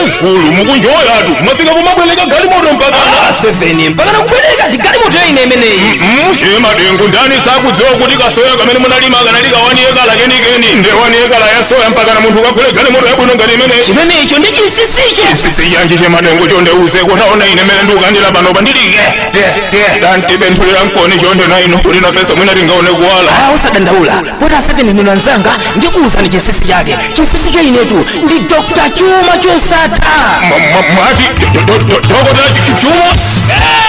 mkulu mukunjoyatu mwafika pomabwereka galimoto mpaka Ah, seven mpaka nakubwereka ndi galimoto ya ine imeneyi che madengu ndani sakudziwa kuti kasoya kamene munalima kanali kawani yekala kenikeni nde wani yekala ya soya mpaka na munthu ukagule galimoto yabwino ngati imeneyi chimenecho ndi chinsinsicho chinsinsi chanji che madengu chonde uzeko taona ine mene ndikukandira panopa ndilike danti benthu lilankoni chonde na inu kuti nafeso mwina tingaone kuwala Ah, usadandaula poti aseveni ndinu anzanga ndikuwuzani chinsinsi chake chinsinsi cha inetu ndi dr chuma chosatha Mwa- mwa- mwati do- do- do- do- dokota chi- chi- chuma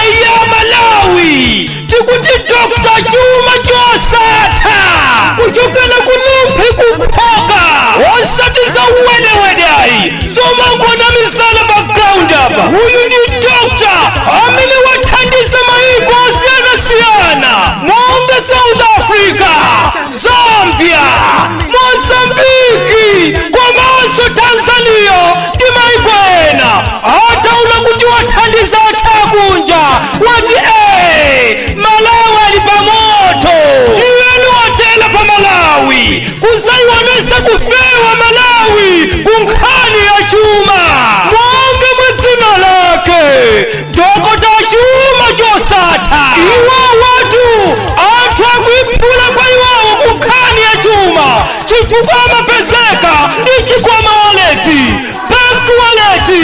eya malawi tikuti dr chuma chosatha kuchokera ku rumphi ku phoka osati za wedewede ayi zomangonamizana pa ground apa uyu ndi dr amene wathandiza mayiko osiyanasiyana monga south africa zambia mozambiki komanso tanzania ndi mayiko ena ataona kuti wathandiza anthu akunja wati ee malawi ali pamoto tiyeni watela pa malawi kuzayionesa kufewa malawi kunkhani ya chuma monga mwa dzina lake dokota chuma chosatha iwowatu anthu akuiphula kwa iwowo kunkhani ya chuma chifukwa amapezeka ndi chikwama waleti pakuwaleti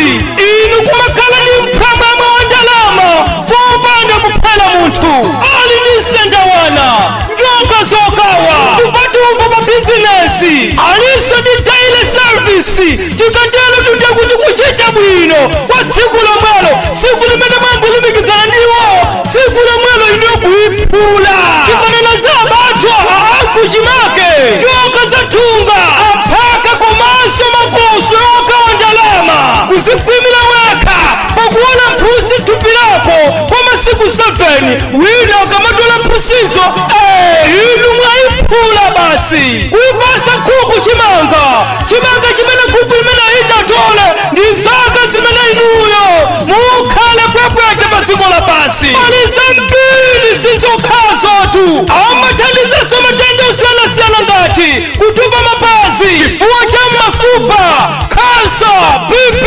inu kumakhala ndi phwamwamwa wa ndalama popanda kuphera munthu ali ndi sendawana njoka zokawa kupatumbo pa bizinesi alinso ndi daily service tikaterotu nde kuti kuchita bwino kwa tsiku lomwelo tsiku limene mwangolumikizana ndi iwo tsiku lomwelo inu kuiphula chipanena za abathwa akuchimake njoka za thunga aphaka komanso makoswe okawa ndalama kuzikhwimira wekha pokuola mphutsi thupi lako kwa masiku 7 wina akamatola mphutsizo eh, inu mwaiphula basi kuipasa nkhuku chimanga chimanga chimene nkhuku imene itatole ndi zaka zimene inuyo mukhale pwepwete pa dziko lapansi pali zambiri sizokhazotu amathandizaso matenda osiyanasiyana ngati kutupa mapazi chifuwa cha mafupa kansa bp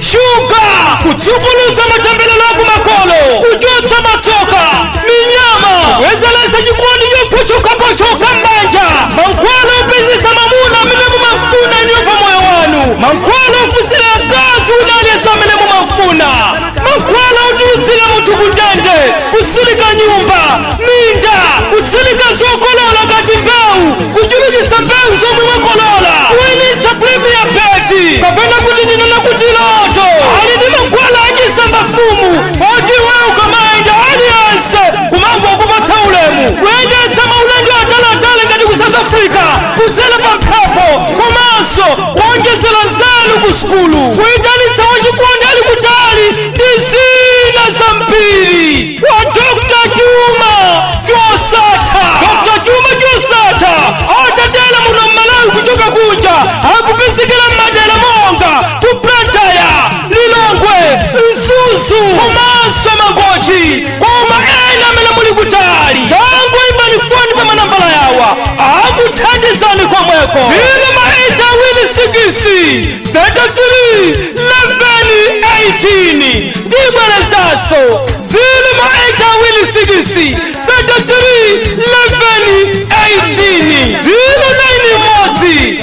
shuga kutsukuluza matembelero akumakolo kuchotsa matsoka minyama kubwezeretsa chikondi chochokachoka m'banja mankhwala opezesa mamuna amene mumafuna inuyo pa moyo wanu mankhwala ofunsira akazi wina aliyense amene mumafuna mankhwala otulutsira munthu kundende kutsilika nyumba minda kutsilika zokolola ngati mbewu kuchulukitsa mbewu zomwe mwakolola kuwinitsa premier bet kapena kuti ndinene kuti loto ali ndi mankhwala achisambamfumu poti iwe ukamayenda aliyense kumangokupatsa ulemu kuyendetsa maulendo atalatali ngati ku south africa kudzera pa mphepo komanso kuonjezera nzeru ku sukulu kuyitanitsa wachikondi ali kutali ndi zina zambiri awa dr chuma chosatha dr chuma chosatha atatera muno m'malawi kuchoka kunja akupezekera m'madera monga ku lilongwe mzuzu komanso mangochi koma ena amene muli kutali tangoimbani foni pa manambala awa akuthandizani komweko zilo ma eyiti awiri sikisi 33 leveni 18 ndibwerezaso zilo ma eyiti awiri sikisi 33 leveni 18 zilo naini imodzi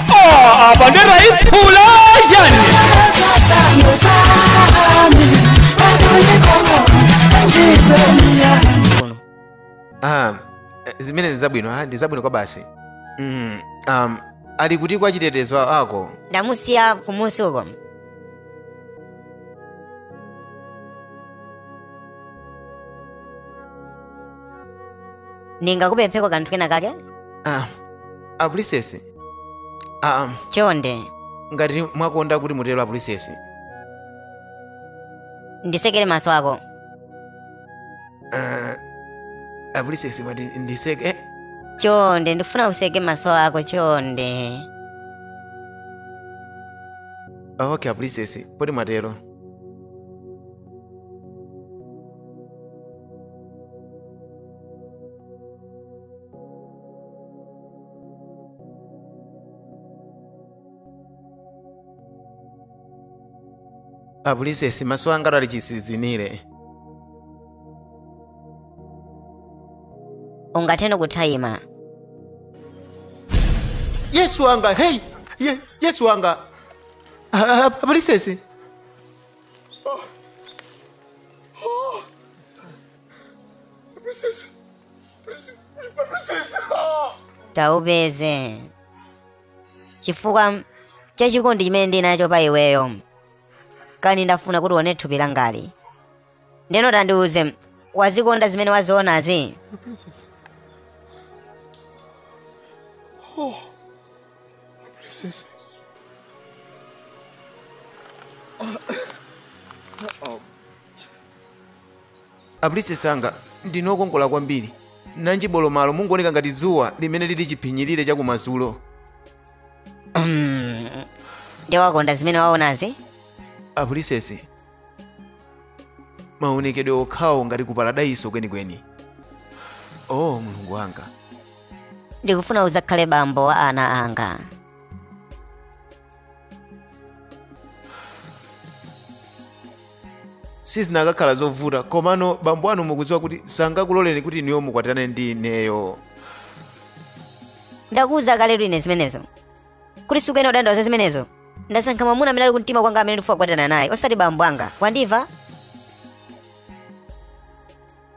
Ah, apa ndera iphula chani Kuno. Ah, eh, zimenezo ndi zabwino ah, ndi zabwino kwa basi mm, um, ali kuti wachitetezo wako ndamusiya kumunsi uko ndingakupempheko kanthu kena kake ah, apulisesi aa chonde ngati mwakonda kuti mutero apulisesi nditsekere maso ako apulisesi mwati nditseke chonde ndikufuna utseke maso ako chonde ok apulisesi poti mwatero apulisesi maso anga ali chisizinire ungathe kuthaima yesu wanga heyi ye, yesu wanga A- a- apulisesi tawupeze chifukwa cha chikondi chimene ndili nacho pa iweyo kani ndafuna kuti uone thupi langali ndeno tandiuze wazikonda zimene wazionazi A princess anga ndinu okongola kwambiri. Nanji bolomalo mungooneka ngati dzuwa limene lili chiphinyirire chakumadzulo. Nde wakonda zimene waonazi? A princess maonekedwe okhawo ngati ku paradaiso kwenikweni. Oh mulungu wanga. Ndikufuna udzakhale bambo wa ana anga. sizinakakhala zovuta komano bambo anu mukudziwa kuti sangakuloleni kuti inuyo mukwatirane ndi ineyo ndakuwuza kaletu ine zimenezo kuti sukuyenera kudandaula za zimenezo ndasankha mwamuna amene ali kumtima kwanga amene ndifuna kukwatirana naye osati bambo anga wandimva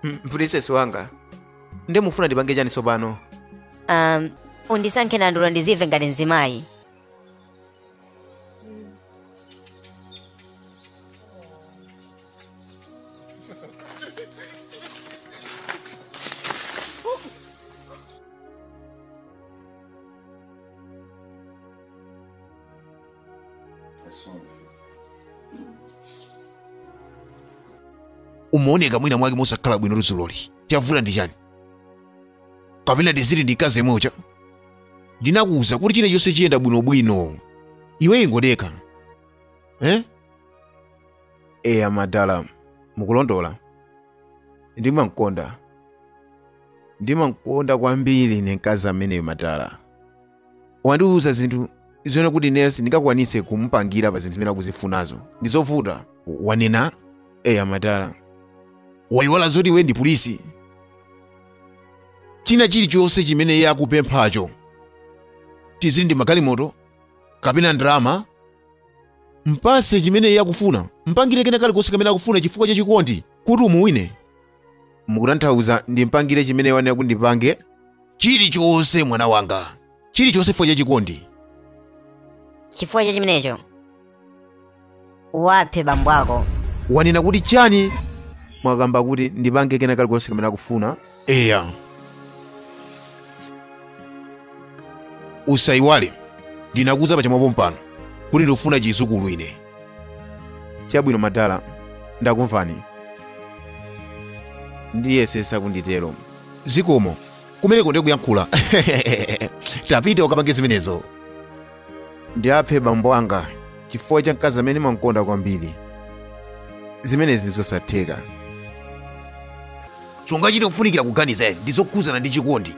Mm, princess wanga nde mufuna ndipange chani tsopano um, undisankhe nandula ndizimve ngati mzimayi umaoneka mwina mwake mosakhala bwino dzuloli chavuta ndi chani kapena tiziti ndi mkazi yemwe uja ndinakuwuza kuti chilichonse chiyenda bwinobwino iwe ingodekha eh? eya madala mukulondola ndimamkonda ndimamkonda kwambiri ine mkazi ameneyo madala wandiwuza zinthu zimene kuti ine sindingakwanitse kumupangira pa zinthu zimene akuzifunazo ndi zovuta wanena eya madala wayiwala zoti iwe ndi prince china chilichonse chimene iye akupemphacho tiziti ndi magalimoto kapena ndalama mpatse chimene iye akufuna mpangire kena kalikonse kamene akufuna chifukwa cha chikondi kuti umuwine mukutanthauza ndimpangire chimene wanena kuti ndipange chilichonse mwana wanga chilichonse chifukwa cha chikondi chifukwa cha chimenecho uwaphe bambo ako wanena kuti chani mwakamba kuti ndipange kena kalikonse kamene akufuna eya usayiwale ndinakuwuza pachamwa pompano kuti ndikufuna chidzukulu ine chabwino madala ndakumvani ndiyesetsa kuti nditero zikomo kumeneko ndiye kuyankhula tapita ukapange zimenezo ndiaphe bambo anga chifukwa cha mkazi amene mwamkonda kwambiri zimenezi ndizosatheka chongachita kufunikira kuganiza eni ndi zokhudzana ndi chikondi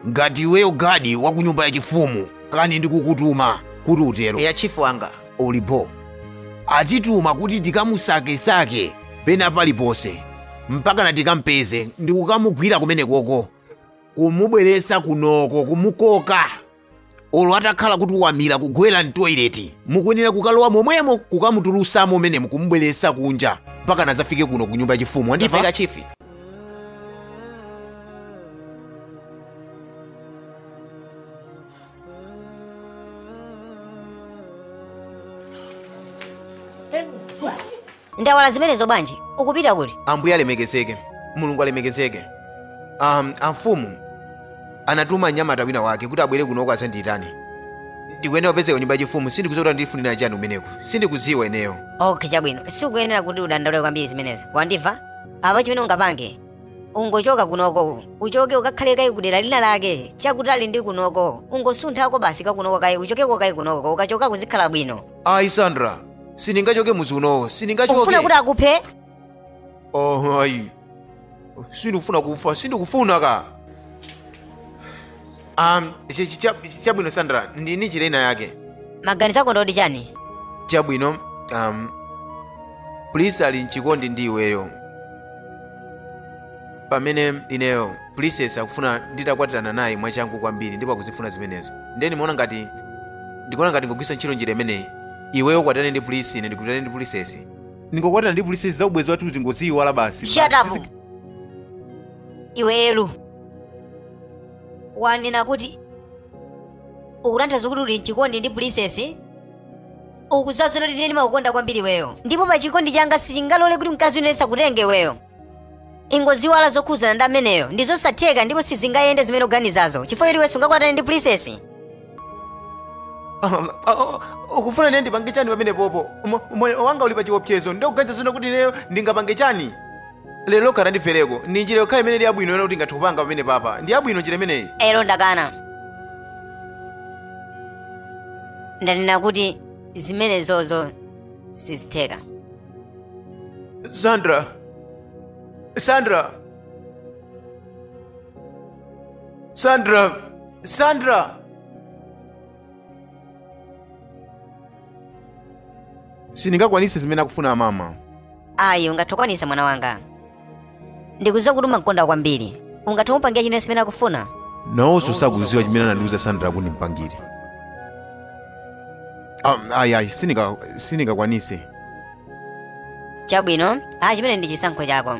ngati iweyo gadi wa ku nyumba yachifumu kani ndikukutuma kuti utero eya chief wanga uli bho atituma kuti tikamusakesake pena paliponse mpakana tikampeze ndikukamugwira kumenekoko kumubweresa kunoko kumukoka olo atakhala kuti wamira kugwera mtoileti mukuyenera kukalowa momwemo kukamutulusamo umenemu kumubweresa kunja mpaka nazafike kuno ku nyumba yachifumu wandimva Ndamva chifi ndayiwala zimenezo bwanji ukupita kuti ambuye alemekezeke mulungu alemekezeke um, amfumu anatuma mnyamata wina wake kuti abwere kunoko azandiyitane ndikuyenera kupezeka nyumba yachifumu sindikudziwa kuti andifunira chani umeneku sindikudziwa ineyo okay chabwino sikuyenera kuti udandaule kwambiri zimenezo wandimva apa chimene ungapange ungochoka kunoko uchoke ukakhale kaye kudera lina lake chakutali ndi kunoko ungosunthako basi kwa kunoko kaye uchokeko kaye kunoko ukachoka kuzikhala bwino ayi sandra sindingachoke muzi unowo ukufuna sindingachoke kuti akuphe oh ayi sindikufuna kufa sindikufuna ka um, chi- chi- cha- chi- chabwino sandra ndili ndi njira ina yake maganizo ako ndoti chani chabwino um, prince ali mchikondi ndi iweyo pamene ineyo princess akufuna nditakwatirana naye mwachangu kwambiri ndipo akuzifuna zimenezo ndeni ndimaona ngati ndikuona ngati tingogwiritsa ntchito njira imeneyi iweyo ukwatane ndi prince ine ndikwatane ndi princess ndingokwatirana ndi princess za ubwezi wathu tingoziyiwala basi shut up iwe elu wanena kuti ukutanthauza kuti uli mchikondi ndi pulisesi ukuziwa zoti ine ndimakukonda kwambiri iweyo ndipo pa chikondi changa sichingalole kuti mkazi wina azakutenge iweyo ingoiwala zokhuzana ndi ameneyo ndi zosatheka ndipo sizingayende zimene uganizazo chifukwa choti iwe sungakwatane ndi pulisesi Mama, ah, oh, ukufuna ine ndipange chani pamenepopo Umo- umoyo wanga uli pa chiopsezo ukuganiza zona kuti ineyo ndingapange chani lero lokha tandimvereko ndi njira yokhayo imene ili yabwino yona kuti ngathe kupanga pamene papa ndi yabwino njira imeneyi elo ndakana ndanena kuti zimenezozo sizitheka sandra sandra sandra sandra sindingakwanitse zimene akufuna amama ayi ungathe kukwanitsa mwana wanga ndikudziwa kuti umamukonda kwambiri ungathe kumupangira chinthu chimene akufuna nawonso sakuziwa chimene anandiuza sandra kuti ndimpangire Ah, ayi ayi sindinga- sindingakwanitse chabwino ayi chimene ndi chisankho chako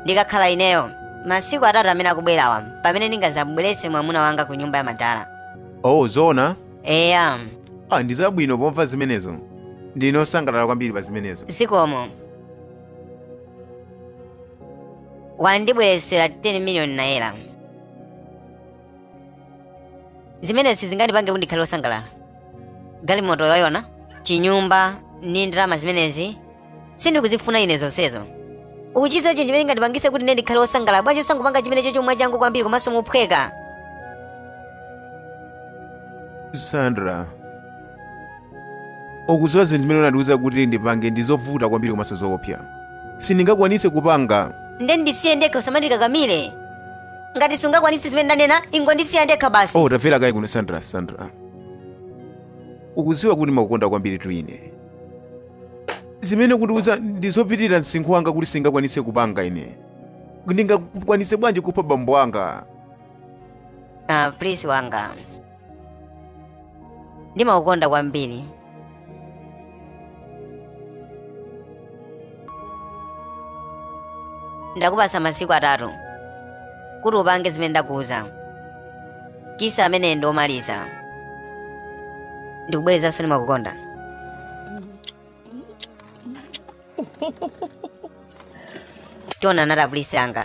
ndikakhala ineyo masiku atatu amene akubwerawa pamene ndingadzamubweretse mwamuna wanga ku nyumba ya madala oh zoona eya ah, ndi zabwino pomva zimenezo ndine osangalala kwambiri pa zimenezo zikomo wandibweretsera 10 miliyoni naira zimenezi zingandipange kuti ndikhale osangalala galimoto yayo na chinyumba ndi ndalama zimenezi sindikuzifuna ine zonsezo ukuchidziwa chinthu chimene chingandipangise kuti ine ndikhale wosangalala bwanji osangopanga chimenechocho mwachangu kwambiri komanso mophweka sandra ukudziwa zinthu zimene unandiuza kuti ndipange ndi zovuta kwambiri komanso zoopsa sindingakwanise kupanga nde ndisiye ndekha usamandikakamire ngati sungakwanise zimene ndanena ingondisiya ndekha basi oh tabwera kaye kuno sandra sandra ukudziwa kuti ndimakukonda kwambiri tu ine zimene ukundiuza ndi zopitirira msinkhu wanga kuti sindingakwanise kupanga ine ndingakwanise bwanji kupha bambo anga Ah, Prince wanga. Ndimakukonda kwambiri. Ndakupasa masiku atatu kuti upange zimene ndakuuza. kiss ameneyu ndi omaliza ndikubwerezanso ndimakukonda tionana prince wanga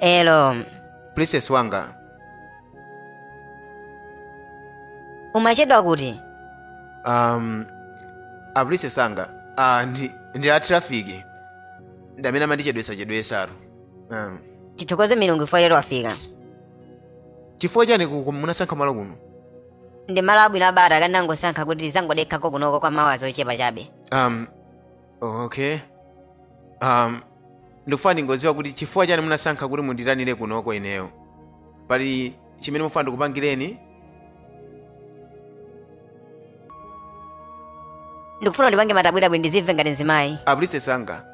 elo princess wanga umachedwa kuti um, a princess anga uh, ndi, ndi a traffic ndi amene amandichedwesachedwesatu um, tithokoze milungu ife poti wafika chifukwa chani ku- ku- munasankha malo kuno ndi malo abwino abata ndinangosankha kuti tizangodekhako kunoko kwa ma hours ochepa chabe um, okay um, ndikufuna ndingodziwa kuti chifukwa chani munasankha kuti munditanire kunoko ineyo pali chimene mufuna ndikupangireni ndikufuna undipange madabwidabwi ndizimve ngati mzimayi a princess anga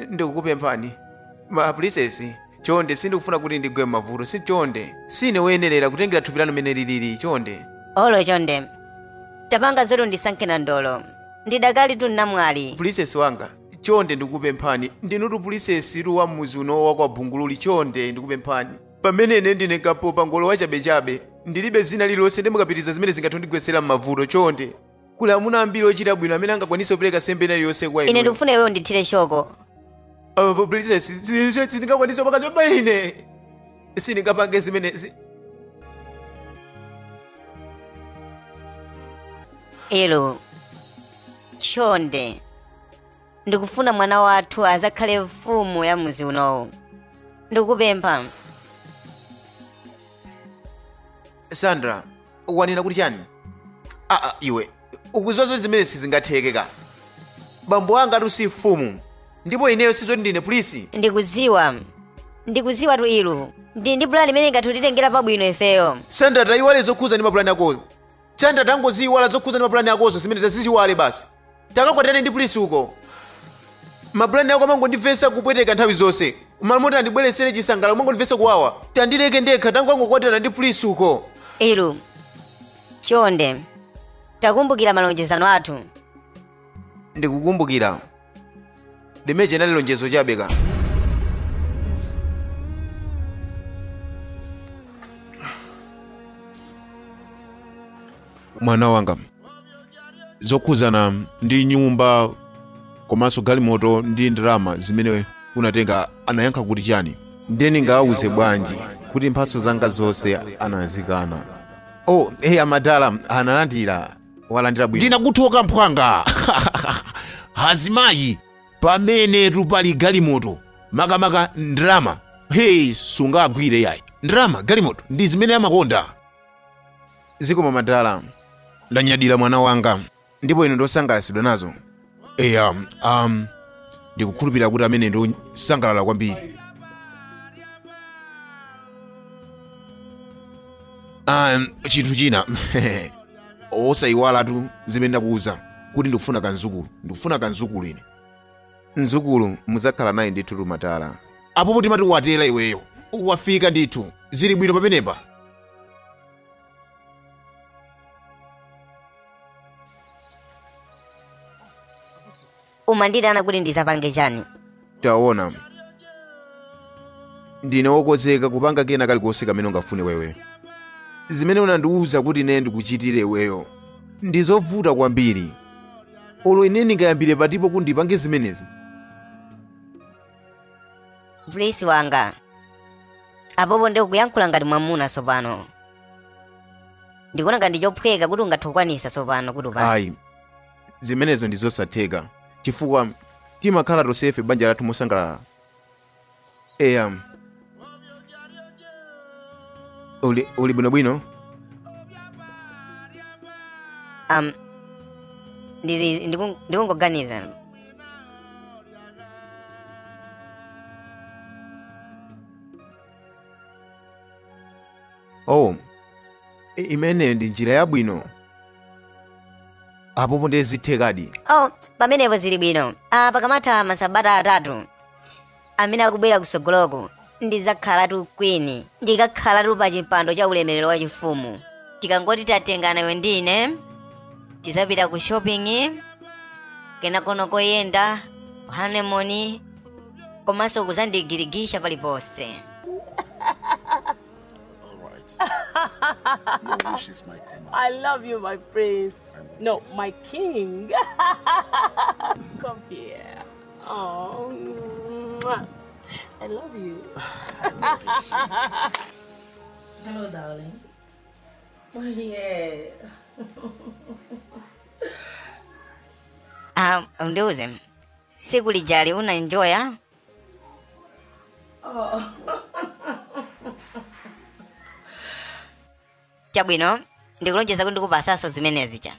ndikukupemphani a princess chonde sindikufuna kuti ndigwe m'mavuto si chonde sine woyenerera kutengera thupi lanu mmene lilili chonde olo chonde tapanga zoti undisankhe nandolo ndidakali tu namwali princess wanga chonde ndikupemphani ndinutu princess tu wa mmuzi uno wa kwa bungululi chonde ndikupemphani pamene ine ndine mkapopangolo wachabechabe ndilibe dzina lililonse nde mukapitiriza zimene zingathe kundigwetsera m'mavuto chonde kuli amuna ambiri ochita bwino amene angakwanise kupereka nsembe ina iliyonse kwa ine ine ndikufuna iweyo undithire shoko apo princess zizwe sindingakwanise kupatsa mimba ine sindingapange zimenezi ilu chonde ndikufuna mwana wathu azakhale mfumu ya muzi unowu ndikupempha sandra wanena kuti chani aa iwe ukuziwa zoti zimene sizingatheke ka bambo anga atu si mfumu ndipo ineyo si zoti ndine prince ndikudziwa ndikudziwa tu ilu ndi ndi pulani imene ingathe kutitengera pabwino ifeyo sandra tayiwala zokhuza ndi mapulani akozo sandra tangoziyiwala zokhuza ndi mapulani akozo zimenezo taziyiwale basi takakwatirane ndi prince uko mapulani ako amangondimvetsa kupweteka nthawi zonse m'malo moti andibweretsere chisangalalo amangondimvetsa kuwawa tandileke ndekha tangakwatirana ndi prince uko ilu chonde takumbukira malonjezano athu ndikukumbukira limene lija linali lonjezo chabe ka mwana wanga zokhudzana ndi nyumba komanso galimoto ndi ndalama zimene unatenga anayankha kuti chani ndiye ndingawawuze bwanji kuti mphatso zanga zonse anazikana oh hey amadala analandira walandira ndinakuthokoza mphwanga azimayi pamenetu pali galimoto makamaka ndalama hey sungagwire yayi ndalama galimoto ndi zimene amakonda zikomo madala ndanyadira mwana wanga ndipo ine ndasangalatsidwa nazo eya um, ndikukhulupirira kuti amene ndi osangalala kwambiri um, chinthu china osayiwalatu zimene ndakuwuza kuti ndikufuna kamdzukulu ndikufuna kamdzukulu ine mzukulu mudzakhala naye ndithutu madala apopo timadikira iweyo wafika ndithu zili bwino pamenepa umandiitana kuti ndizapange chani taona ndine wokozeka kupanga kena kalikonse kamene ungafune iweyo zimene unandiwuza kuti ine ndikuchitire iweyo ndi zovuta kwambiri olo ine ndingayambire pati po kuti ndipange zimenezi Prince wanga. Apopo ndiye ukuyankhula ngati mwamuna tsopano. Ndikuona ngati ndi chophweka kuti ungathe kukwanisa tsopano kuti upange. ayi zimenezo ndi zosatheka chifukwa timakhala tonsefe banja lathu mosangalala eya uli bwinobwino um ndili ndiku- ndikungoganiza oh i- imeneyo ndi njira yabwino apopo ndiye zithekadi oh pamenepo zili bwino ah pakamatha masabata atatu amene akubwera kutsogoloku ndidzakhalatu queen ndikakhalatu pa chimpando cha ulemerero wa chifumu tikangoti tatengana iwe ndi ine tidzapita ku shopping kenakono koyenda honeymoon komanso kuzandigirigisha paliponse All right. Your wish is my command. I love you, my prince. No, my king. Come here. Oh, mwah. I love you. Hello, darling. Oh, yeah. Ah, mdiuze siku lijali una enjoy ah? Oh. chabwino ndikulonjeza kuti ndikupasaso zimenezi cha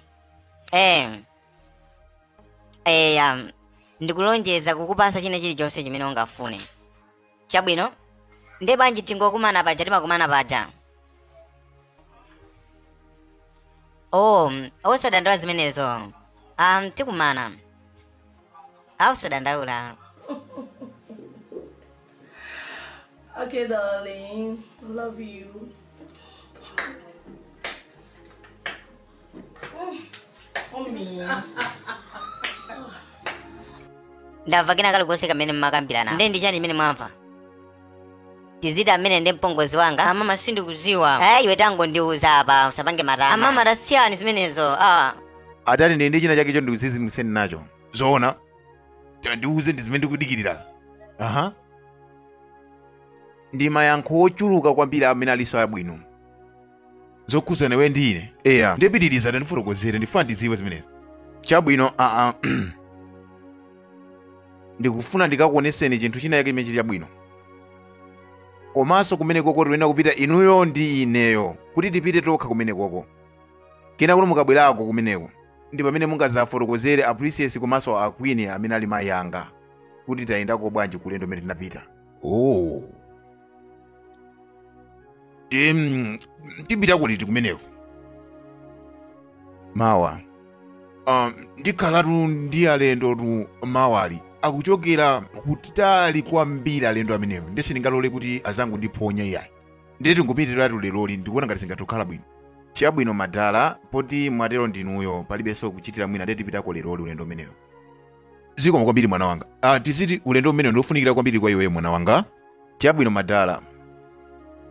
eh eya ndikulonjeza kukupasa china chilichonse chimene ungafune chabwino nde bwanji tingokumana paja timakumana paja oh osadandaula zimenezo um, tikumana ah usadandaula Okay, darling. Love you. ndamva kena kalikonse kamene mumakambirana nde ndi chani imene mwamva tiziti amene ndi mpongozi wanga amama sindikuziwa eh iwe tangondiuza apa usapange matama amama tasiyani zimenezo ah atati nde ndi china chake cho ndikuzizimuseni nacho zoona tandiuze ndi zimene ndikudikirira aha ndi mayankho ochuluka kwambiri amene alinso abwino zokhudzana iwe ndi ine eya ndipitiriza tandifotokozere ndifuna ndidziwe zimenezi chabwino aa ndikufuna ndikakuoneseni chinthu china chake chimene chili chabwino komanso kumene koko tiyenera kupita inuyo ndi ineyo kuti tipite tokha kumene koko kenaka mukabwerako kumeneko ndi pamene mungazafotokozere a princess komanso a queen amene ali mayi anga kuti tayendako bwanji kulendo umene tinapita oh Tipita liti kumeneko? Mawa. Um, ndikhalatu ndi alendotu mawali akuchokera kutali kwambiri alendo amenewo nde sindingalole kuti azangondiphonya iyayi ndiye tingopitiratu leroli ndikuona ngati zingatokhala bwino chabwino madala poti mwatero ndinuyo palibenso kuchitira mwina ndiye tipitako leroli ulendo umenewo zikomo kwambiri mwana wanga ah, tiziti ulendo umenewu ndiofunikira kwambiri kwa iweyo mwana wanga chabwino madala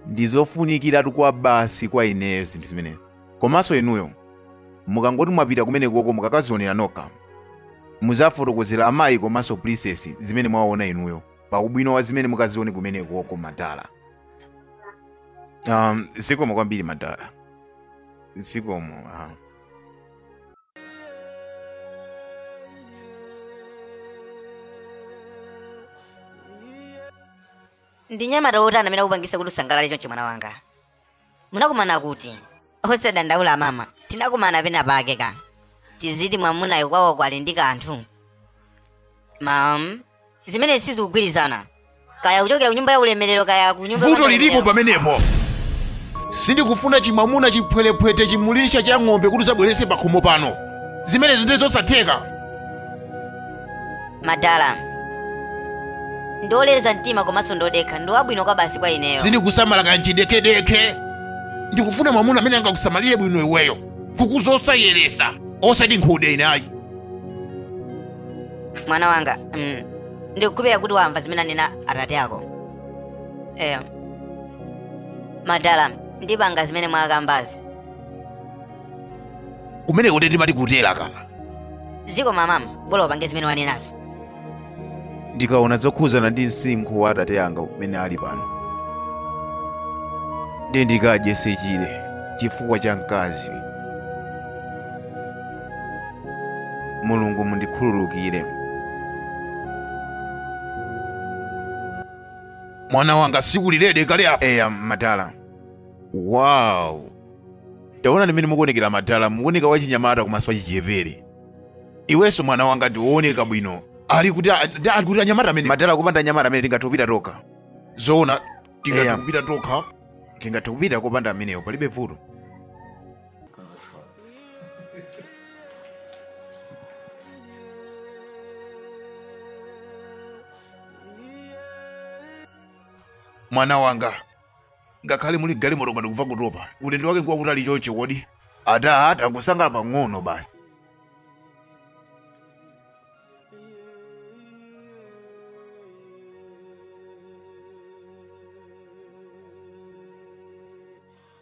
ndizofunikiratu kwabasi kwa ineyo zinthu zimene komanso inuyo mukangoti mwapita kumenekoko mukakazionera nokha muzafotokozera amayi komanso princess zimene mwaona inuyo pa ubwino wa zimene mukazione kumenekoko madala um, zikomo kwambiri madala zikomo ah. ndi mnyamata wotani amene akupangisa kuti usangalale chonchi mwana wanga munakumana kuti osadandaula mama tinakumana penapake ka tiziti mwamunayo kwawo kuli ndi kanthu mam zimene sizikugwirizana kaya kuchokera ku nyumba ya ulemerero kaya ku- vuto lilipo pamenepo sindikufuna chimwamuna chiphwerephwete chim'busa cha ng'ombe kuti uzabwerese pakhomo pano zimenezi ndi zosatheka madala ndioleza mtima komanso ndodekha ndi wabwino kwabasi kwa ineyo sindikusamala za kanchidekhedekhe ndikufuna mwamuna amene angakusamalire bwino iweyo kukuza osayeresa osati nkhute inayi mwana wanga mm, ndikukhulupirira kuti wamva zimene anena atate ako eya madala ndipanga zimene mwakambazi kumene kuti ndimati kutera ka ziko mama bola upange zimene wanenazo ndikaona zokhuzana ndi msinkhu wa atate anga umene ali pano ndiye ndikadye sechire chifukwa cha mkazi mulungu mundikhululukire mwana wanga siukulirebe kale apa eya madala wow taonani mmene mukuonekera madala mukuoneka wachinyamata komanso wachichepere iwenso mwana wanga ndiwooneka bwino ali kuti a- ndi ali kuti anyamata madala kupanda anyamata amene tingathe kupita tokha zoona tingathe Eya. kupita tokha tingathe kupita kupanda amenewo palibe vuto mwana wanga ngakhale muli galimoto ndikuva kutopa ulendo wake ngwa kutali chonchi kodi tatsala pang'ono basi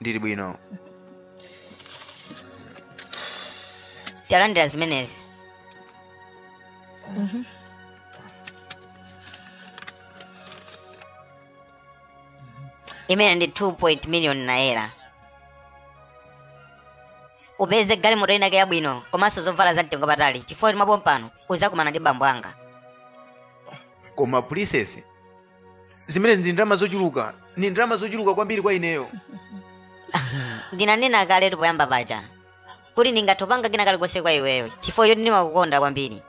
ndili bwino talandira izi imene ndi 2 million naira upeze galimoto inake yabwino komanso zovala za mtengo patali chifukwa choti mwapompano uzakumana ndi bambo anga koma princess zimenezi ndi ndalama zochuluka ndi ndalama zochuluka kwambiri kwa ineyo ndinanena kaletu poyamba paja kuti ndingathe kupanga kena kalikonse kwa iweyo chifukwa choti ndimakukonda kwambiri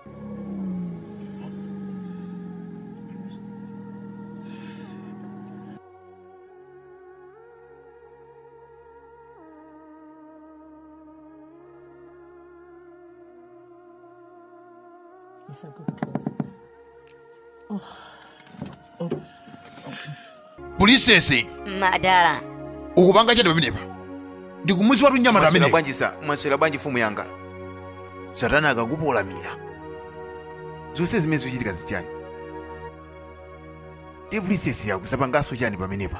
pulisesi madala ukupanga chani pamenepa ndikumudziwatu nyamata mwaswera amene bwanji sa mwaswera bwanji mfumu yanga satana akakupolamira zonse zimene zikuchitika zichani tipulisesi ukuzapanganso chani pamenepa